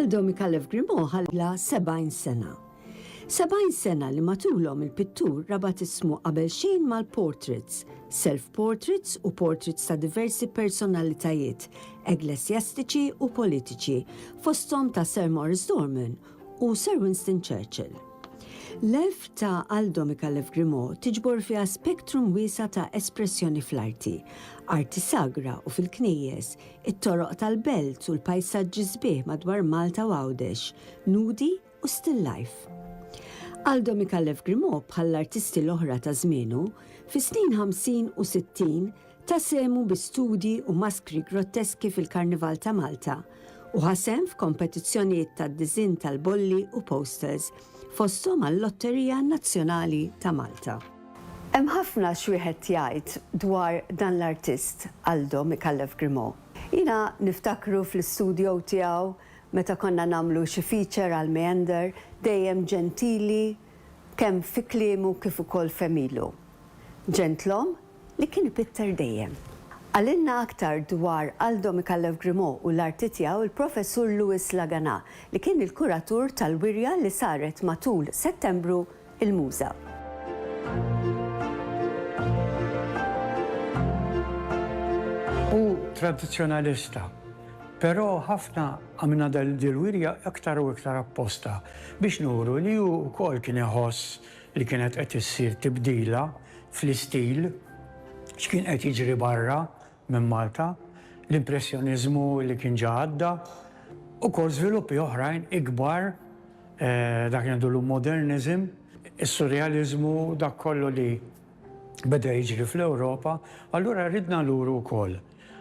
Aldo Mikalev Grimo ħalla 70 sena. 70 sena li matulhom il-pittur rabat ismu qabel xejn mal-portraits, self-portraits u portraits ta' diversi personalitajiet, eglesjastiċi u politiċi, fosthom ta' Sir Morris Dorman u Sir Winston Churchill. L-elf ta' Aldo Micallef Grimaud tiġbor fiha spektrum wiesa' ta' espressjoni fl-arti, arti sagra u fil-knejjes, it-toroq tal-belt u l-pajsaġġi sbieħ madwar Malta u Għawdex, nudi u still life. Aldo Micallef Grimaud bħall-artisti l-oħra ta' żmienu, fis-snin ħamsin u sittin, Ta sehmu bi studji u maskri grotteski fil-Karnival ta' Malta u ħa sehem f'kompetizzjonijiet tad-diżinn tal-bolli u posters, fosthom għal-Lotterija Nazzjonali ta' Malta. Hemm ħafna x'wieħed jgħid dwar dan l-artist, Aldo Micallef Grimaud. Jiena niftakru fl-istudio tiegħu meta konna nagħmlu xi feature għal Meander, dejjem ġentili kemm fi kliemu kif ukoll f'għemilu. Ġentlom li kien ipitter dejjem. Qalilna aktar dwar Aldo Micallef Grimaud u l-arti tiegħu l-Professur Louis Laganà li kien il-kuratur tal-wirja li saret matul Settembru il-Muża. Hu tradizzjonalista, però ħafna għamilna dil-wirja iktar u iktar apposta biex nuru li hu wkoll kien iħoss li kienet qed issir tibdila fl-istil, x'kien qed jiġri barra minn Malta, l-Impressjoniżmu li kien ġa għadda, ukoll żviluppi oħrajn ikbar, dak li ngħidu llum moderniżm, is-Surrealiżmu, dak kollu li beda jiġri fl-Ewropa, allura ridna nduru wkoll.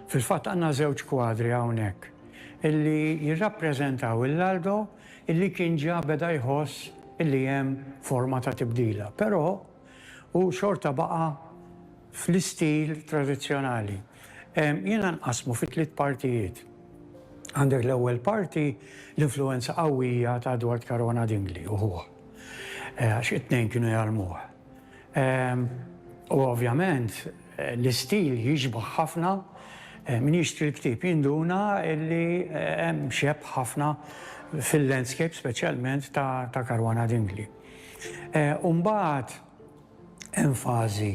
Fil-fatt għandna żewġ kwadri hawnhekk illi jirrappreżentaw il-Aldo illi kien ġa beda jħoss illi hemm forma ta' tibdila, però hu xorta baqa' fl-istil tradizzjonali. Jiena nqassmu fi tliet partijiet. Għandek l-ewwel parti, l-influwenza qawwija ta' Edward Carona Dingli u ħuh, għax it-tnejn kienu jgħallmuh. U ovvjament l-istil jixbah ħafna, min jixtri l-ktieb jinduna li hemm xebh ħafna fil-landscape speċjalment ta' Caruana Dingli. U mbagħad hemm fażi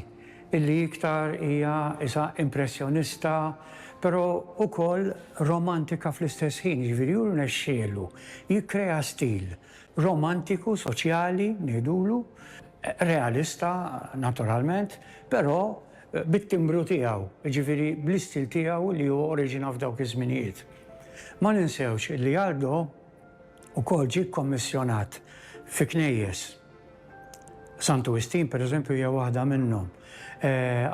li iktar hija qisha impressjonista però wkoll romantika fl-istess ħin, jiġifieri hu rnexxielu jikkrea stil romantiku, soċjali, ngħidulu, realista, naturalment, però bit-timbru tiegħu, jiġifieri bl-istil tiegħu li hu oriġina f'dawk iż-żminijiet. Ma ninsewx illi Aldo wkoll ġie kkommissjonat fi knejjes. Santu Wistin, pereżempju, hija waħda minnhom.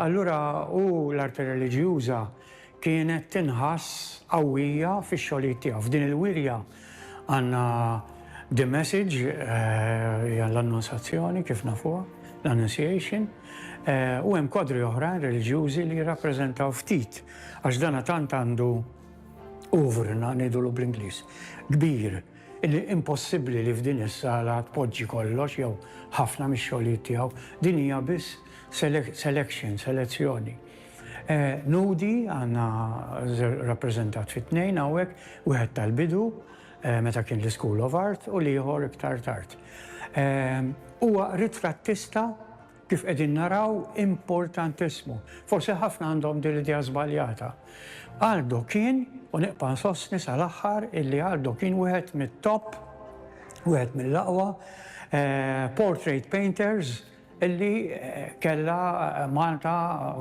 Allura hu l-arti reliġjuża Kienet tinħass qawwija fix-xogħlijiet tiegħu. F'din il-wirja għandna the message, hija l-Annunsazzjoni kif nafuha, l-Annunciation, u hemm kwadri oħrajn reliġjużi li jirrappreżentaw ftit, għax dan tant għandu oeuvre, ngħidulu bl-Ingliż, kbir, illi impossibbli li f'din is-sala tpoġġi kollox jew ħafna mix-xogħlijiet tiegħu. Din hija biss selection, selezzjoni. Nudi għandna rappreżentat fi tnejn hawnhekk, wieħed tal-bidu, meta kien l-Ischool of Art, u l-ieħor iktar tard. Huwa ritrattista kif qegħdin naraw importantissimu. Forsi ħafna għandhom din l-idea żbaljata. Aldo kien, u nibqa' nsostni sal-aħħar illi Aldo kien wieħed mit-top, wieħed mill-aqwa, portrait painters, Illi kellha Malta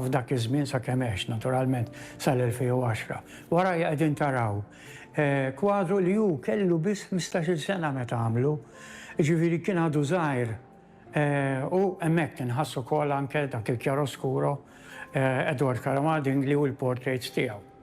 f'dak iż-żmien sakemm għex, naturalment, sal-2010. Warajja qegħdin taraw kwadru li hu kellu biss ħmistax-il sena meta għamlu, jiġifieri kien għadu żgħir u hemmhekk inħass ukoll anke dak il-chiaroscuro Edward Caramadingli u l-portraits tiegħu.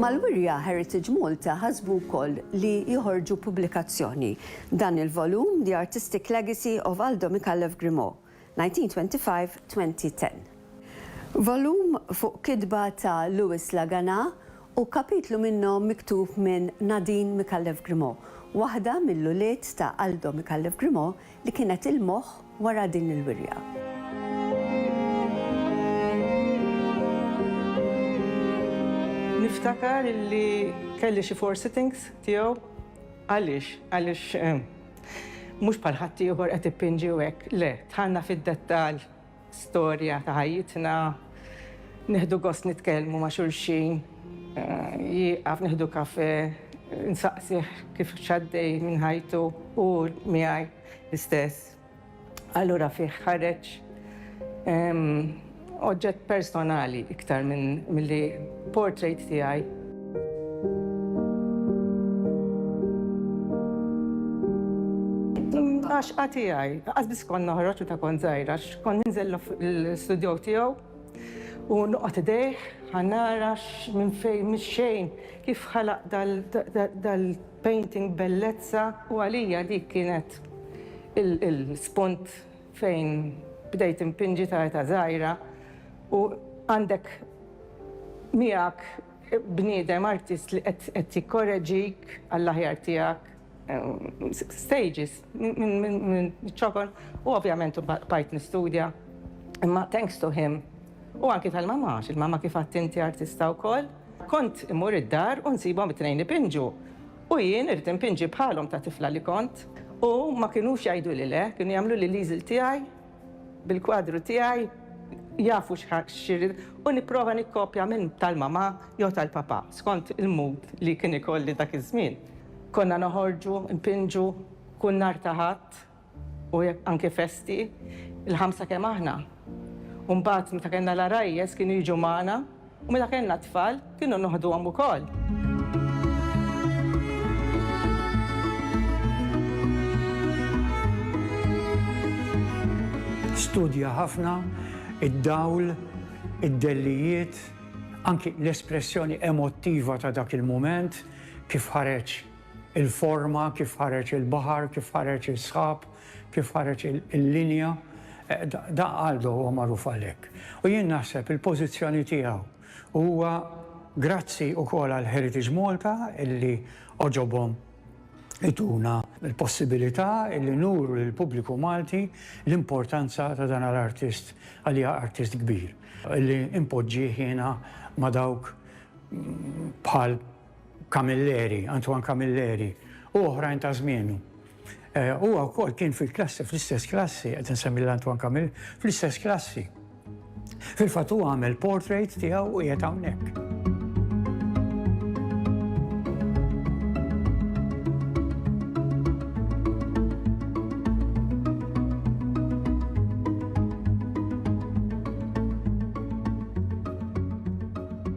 Mal-wirja Heritage Malta ħasbu wkoll li joħorġu pubblikazzjoni, dan il-volum The Artistic Legacy of Aldo Micallef Grimaud, 1925-2010. Volum fuq kitba ta' Louis Laganà u kapitlu minnhom miktub minn Nadine Micallef Grimaud, waħda mill-ulied ta' Aldo Micallef Grimaud li kienet il-moħħ wara din il-wirja. Niftakar li kelli xi four sittings tiegħu. Għaliex? Għaliex mhux bħal ħaddieħor qed ippinġi u hekk, le, dħalna fid-dettall Storja ta' ħajjitna, nieħdu gost nitkellmu ma' xulxin, jieqaf nieħdu kafè, nsaqsih kif x'għaddej minn ħajtu u hu miegħi l-istess. Allura fih ħareġ oġġett personali iktar milli Portrait tiegħi. Għax għati għaj, għaz bis kon noħroċ u ta' kon zaħira, kon ninżel l-studio tiegħu u nuqgħod idejh, ħanara minn fejn minn xejn kif ħalaq dal-painting bellezza u għalija dik kienet il-spunt fejn bdejt impinġi ta' età żgħira u għandek miegħek bniedem artist li qed jikkoreġik għall-aħjar tiegħek, stages minn ċ-ċokon u ovvjament bqajt nistudja imma thanks to him u anki tal-mamma għax il-mamma kif għedt inti artista wkoll, kont immur id-dar u nsibhom it-tnejn ipinġu. U jien irid inpinġi bħalhom ta' tifla li kont, u ma kinux jgħiduli le, kienu jagħmluli l-easel tiegħi bil-kwadru tiegħi, jafu x'irrid, u nipprova nikkopja minn tal-mamà jew tal-papà, skont il-mood li kien ikolli dak iż-żmien. Konna noħorġu, npinġu, kull nhar ta' Ħadd. U jekk anke festi, il-ħamsa kemm aħna. U mbagħad meta kellna l-għarajjes kienu jiġu magħna u meta kellna t-tfal kienu noħduhom ukoll. Studja ħafna id-dawl, id-dellijiet, anki l-espressjoni emottiva ta' dak il-mument kif ħareġ Il-forma, kif ħareġ il-baħar, kif ħareġ is-sħab, kif ħareġ il-linja, da Aldo huwa magħruf għalhekk. U jien naħseb il-pożizzjoni tiegħu huwa grazzi wkoll għal Heritage Malta illi għoġobhom ituna l-possibilità illi nuru lill-pubbliku Malti l-importanza ta' dan l-artist għalija artist kbir. Illi impoġġih jiena ma' dawk bħal Camilleri, Antoine Camilleri, u oħrajn ta' żmienu. Eh, huwa wkoll kien fil-klassi, fl-istess klassi, qed insemmi l-Antoine Camilleri, fl-istess klassi. Fil-fatt huwa għamel portrait tiegħu u qiegħed hawnhekk.